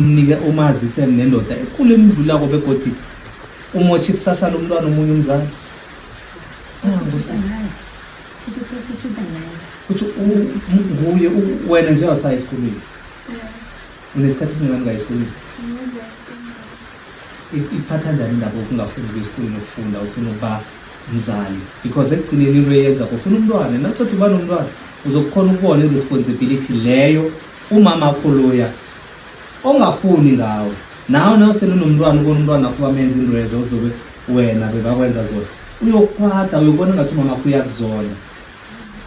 mnike umazise nendoda ekule mdlulako begodi umotshi kusasa lomntwana omunye umzali uthi nguye wena nje wasayi esikolweni unesikhathi esingani ngayo esikolweni iphatha njani indaba okungafuni ukuya esikolweni okufunda ufuna ukuba mzali because ekugcineni into eyenza kufuna umntwana naceda uba nomntwana uzokukhona ukubona i-responsibility leyo umama akholoya ongafuni ngawo nawe nawe selunomntwana ubona umntwana wakho bamenza into ezo uzobe wena bebakwenza zona uyokwata uyobona ngathi umama wakho uyakuzona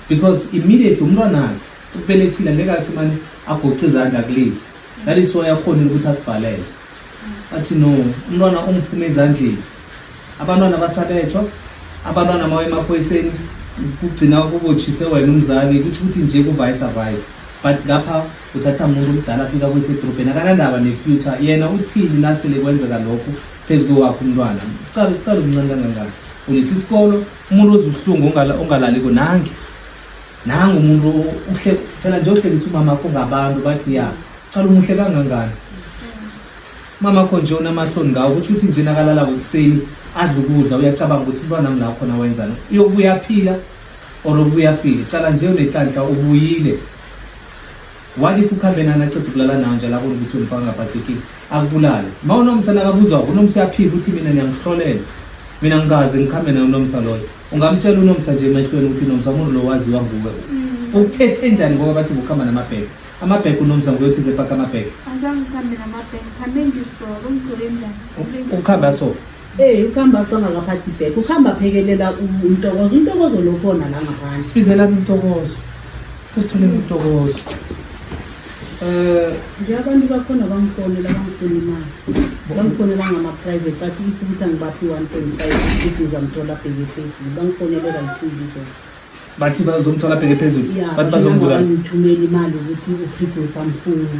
because immediately umntwanakhe ubelethile ngeke athi mane agoce izandla kulezi that is why akhonile ukuthi asibhalele athi no umntwana ungiphume ezandleni abantwana basabethwa abantwana mawe emaphoyiseni kugcina kubotshise wena umzali kutho ukuthi nje kuvayisa vayisa but lapha kuthatha umuntu omdala afika kuyise edorobheni akanandaba ne-future yena uthini nasele kwenzeka lokhu phezu kowakho umntwana cala sicala umncane kangangani ulisa isikolo umuntu ozubuhlungu ongalaliko nange nangu umuntu uhle phela nje uhlekisa umama kho ngabantu bathi ya cala umuhle kangangani umama kho nje unamahloni ngawo kutsho ukuthi nje nakalala ngokuseni adla ukudla uyacabanga ukuthi umntwana mna khona wenzani uyokubuya phila or ubuya file cala nje unetlanhla ubuyile What if ukhambe nana aceda ukulala nawo nje labona ukuthi umfaka ngabhadekile akubulale ma unomsa nakabuzwa unomsa uyaphika ukuthi mina niyangihlolela mina ngikaze ngikhambe naye unomsa loyo ungamtshela unomsa nje emehlweni ukuthi nomsa umuntu lo waziwa nguwe mm. ukuthethe njani ngoba bathi ukuhamba namabheke amabheke unomsa nguye uthize paka amabheke ukuhambe asoko Hey ukhamba sangakaphathi back. Ukhamba phekelela umtokozo. Umtokozo lokhona la ngaphandle. Sibizela umtokozo. Kusithole umtokozo. Eh nje abantu bakhona bangifonela bangifuna imali. Bangifonela ngama private bathi if ukuthi angibaphi 1.5 ukuthi ngizamthola bheke phezulu. Bangifonela like 2 weeks ago. Bathi bazomthola bheke phezulu. Yeah, Bathi bazombulala. Ngithumela imali ukuthi uphithe usamfuna.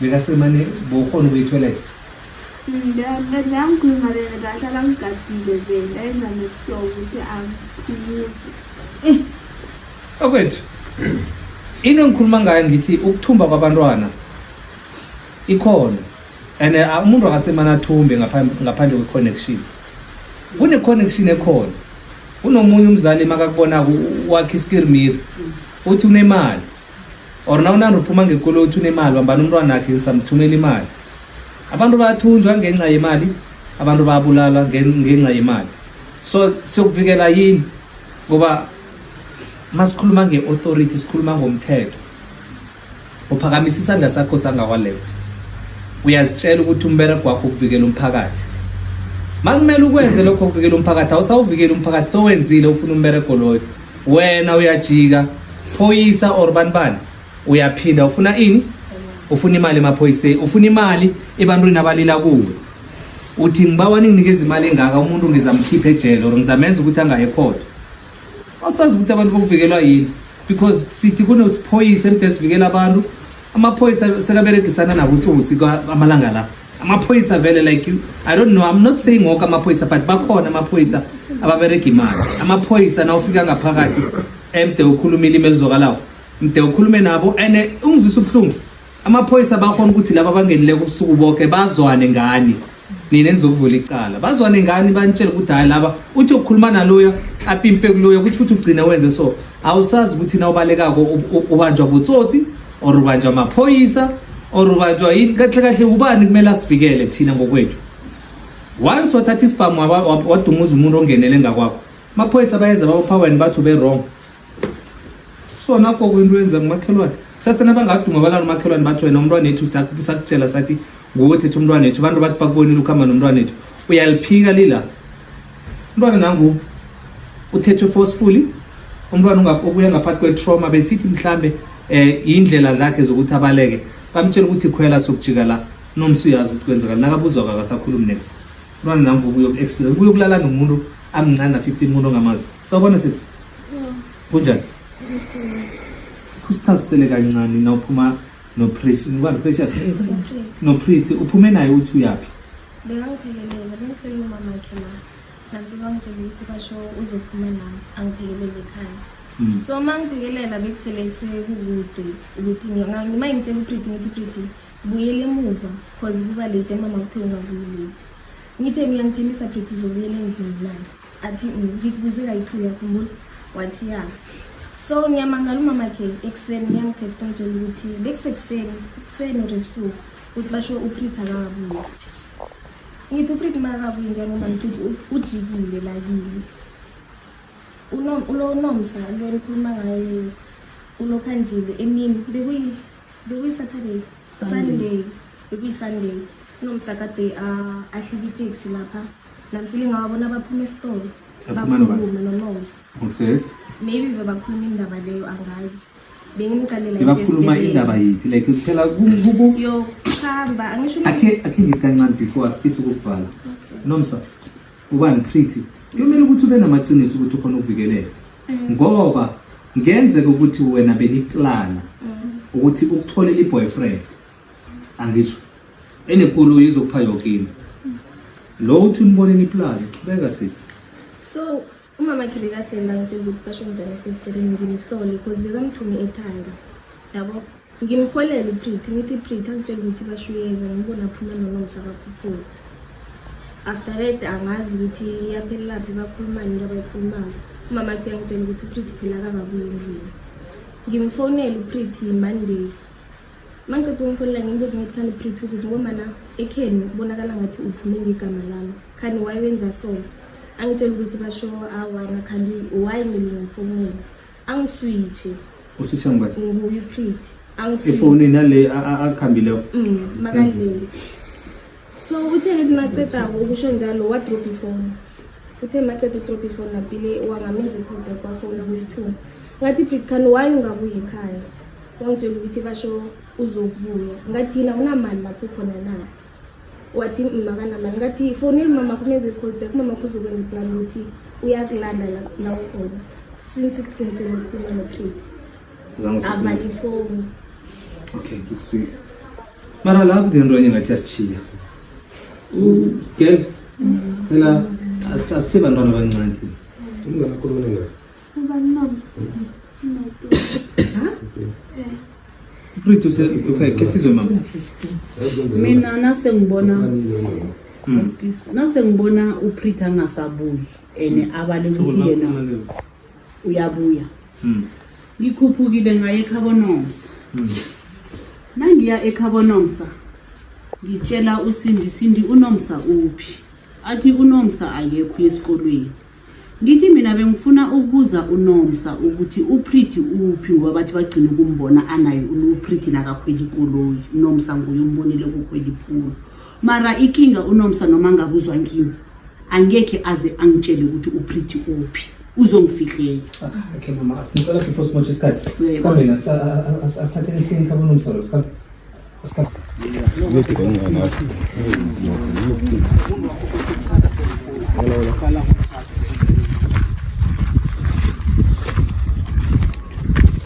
bekasemane bowukhona ukuyithoilet ngiyakhuluma vele kahle akangigadile vele ayenza nokuhlobo ukuthi angiphumuki eh, okwethu into engikhuluma ngayo ngithi ukuthumba kwabantwana ikhona and eh, umuntu akasemane athumbe ngaphandle kwe-connection kune-connection ekhona kunomunye umzali makakubonako wakhe iskirmir uthi unemali or nawunani uphuma ngekolo uthi unemali wambani umntwana akhe samthumela imali abantu bayathunjwa ngenxa yemali abantu bayabulala ngenxa yemali so siyokuvikela yini ngoba masikhuluma nge-authority sikhuluma ngomthetho uphakamisa isandla sakho sangawa-left uyazitshela ukuthi umbereko wakho ukuvikela umphakathi makumele ukwenze lokho ukuvikela umphakathi awusawuvikela umphakathi sowenzile ufuna umbereko loyo wena uyajika phoyisa or bani bani uyaphinda ufuna ini ufuna imali emaphoyiseni ufuna imali ebantwini abalila kuwe uthi ngibawa ninginikeza imali engaka umuntu ngizamkhipha ejele or ngizamenza ukuthi angaye ekhotho awusazi ukuthi abantu bokuvikelwa yini because sithi kunesiphoyisa emde sivikela abantu amaphoyisa sekaberegisana nakutsotsi amalanga la amaphoyisa vele like you i don't know i'm not saying ngoke amaphoyisa but bakhona amaphoyisa ababerega imali amaphoyisa na ufika ngaphakathi emde ukhuluma ilimi elizokalawo mde ukhulume nabo and eh, ungizwisa ubuhlungu amaphoyisa bakhona ukuthi laba bangenileko ubusuku bonke bazwane ngani nina enizokuvula icala bazwane ngani banitshele ukuthi hayi laba uthi ukukhuluma naloya apimpe kuloya kusho ukuthi ugcina wenze so awusazi ukuthi na ubalekako ubanjwa butsotsi or ubanjwa amaphoyisa or ubanjwa yini kahle kahle ubani kumele asivikele thina ngokwethu once wathatha isibhamu wadumuza umuntu ongenele ngakwakho amaphoyisa bayeza bawuphaweni bathi ube wrong so nakho kwinto yenza ngumakhelwane kusase nabangaduma balala umakhelwane bathi wena umntwana ethu sakutshela sathi nguwe thetha umntwana ethu abantu bathi bakubonile ukuhamba nomntwana ethu uyaliphika lila umntwana nangu uthethwe forcefully umntwana obuya ngaphathi kwe-trauma besithi mhlambe eh indlela zakhe zokuthi abaleke bamtshela ukuthi khwela sokujika la nomsi uyazi ukuthi kwenzekani nakabuzwa kakasakhulumi next umntwana nangu ubuye ku-experience ubuye ukulala nomuntu amncane na-15 umuntu ongamazi sawubona sisi kunjani kusichazisele kancane nawuphuma noprecious noprity uphume naye uthi uyaphi bekangiphekelele bengisele umamakhe la kanti bangitshela ukuthi basho uzophuma nami angiphekelele ekhaya Mm. so uma ngibhekelela bekusele sekukude ukuthi ngi- noma ngitshela upriti ngithi priti buyela emuva cause kuba late mama kuthe ungabuyi late ngithe ngiyangithembisa priti uzobuyela endlini na athi "Mm, ngikubuze kayi-two yakhumbula wathi ya so ngiyamangala umamakhe ekuseni ngiyangithetha ngitshela ukuthi bekusekuseni ekuseni or ebusuku ukuthi basho uprit akabuye ngithi uprit uma akabuye njalo uma ngithi ujikile lakini ulonomsa lo nikhuluma ngaye ulokhanjile emini bekuyi-saturday sunday bekuyi-sunday unomsa kade ahlika iteksi lapha nampili ngawabona baphuma esitolo bakhuluma nonomsa okay maybe bebakhuluma indaba leyo angazi bengicalela indaba yiphi like phela yokuhamba angisho akhe akhe ngithi kancane before asifise ukukuvala nomsa ubani pretty kuyomele ukuthi ube namaqiniso ukuthi ukhona ukuvikeleka mm. ngoba ngenzeka ukuthi wena beniplana mm. ukuthi ukutholela i-boyfriend angisho enekoloyi izokupha yoke into mm. lo uthi uniboneni iplani qhubeka sisi so Umama khe bekahleli bangitshela ukuthi basho njani efestireni ngimhlole because bekamthume ekhanda yabo ngimholele upriti ngithi ipriti angitshela ukuthi bashuyeza ngibona aphuma nonomsa bakhuphula after that angazi ukuthi yaphelelaphi bakhulumani into abayikhulumako umama khe uyangitshela ukuthi upriti phela kakabuye endlini ngimfonele upriti monday mangiqeda ukumfonela ngimbuze ngithi khani uphrithi ukuthi ngomana ekheni kubonakala ngathi uphume ngegama lami khani wayewenza sona angitshela ukuthi basho awana khani waye mina ngifonela angiswitshe uswitshe ngubani nguye uphrithi angiswitshe efonini nale akhambile mm, makalele so uthe ngithi maceda ukusho njalo wadrop ifoni uthe maceda udrop ifoni napile wangamenza ikhombe kwafona kwesithuba ngathi bigkhani why ungabuyi ekhaya wangitshela ukuthi basho uzokubuya ngathi yina unamali lapho khona na wathi makanamali ngathi foneli mama kumenza i-call back mama kuzokwenza iplan ukuthi uyakulanda la ukhona since kugcinteni ukukhuluma nopreti avala ifoni okay ngikuswile mara la kudinto enye ngathi yasishiya girl phela asise bantwana abancane umngane akho lona ngayo ubani mama Pretty says okay, kesizwe mama. Mina nase ngibona nase ngibona uPretty angasabuyi ene abale ukuthi yena uyabuya hmm. ngikhuphukile ngaye ekhabonomsa hmm. nangiya ekhabonomsa ngitshela usindi sindi unomsa uphi athi unomsa akekho esikolweni ngithi mina bengifuna ukubuza unomsa ukuthi upriti uphi ngoba bathi bagcina ukumbona anayo upriti nakakhwela ikoloyi unomsa nguye umbonile kukhwela iphulu mara ikinga unomsa noma angabuzwa ngimi angekhe aze angitshele ukuthi uprity uphi uzongifihlela okay mama asicela before simotshe isikhathi sihambe na asithathele isini khabo nomsa lo sihambe Hola,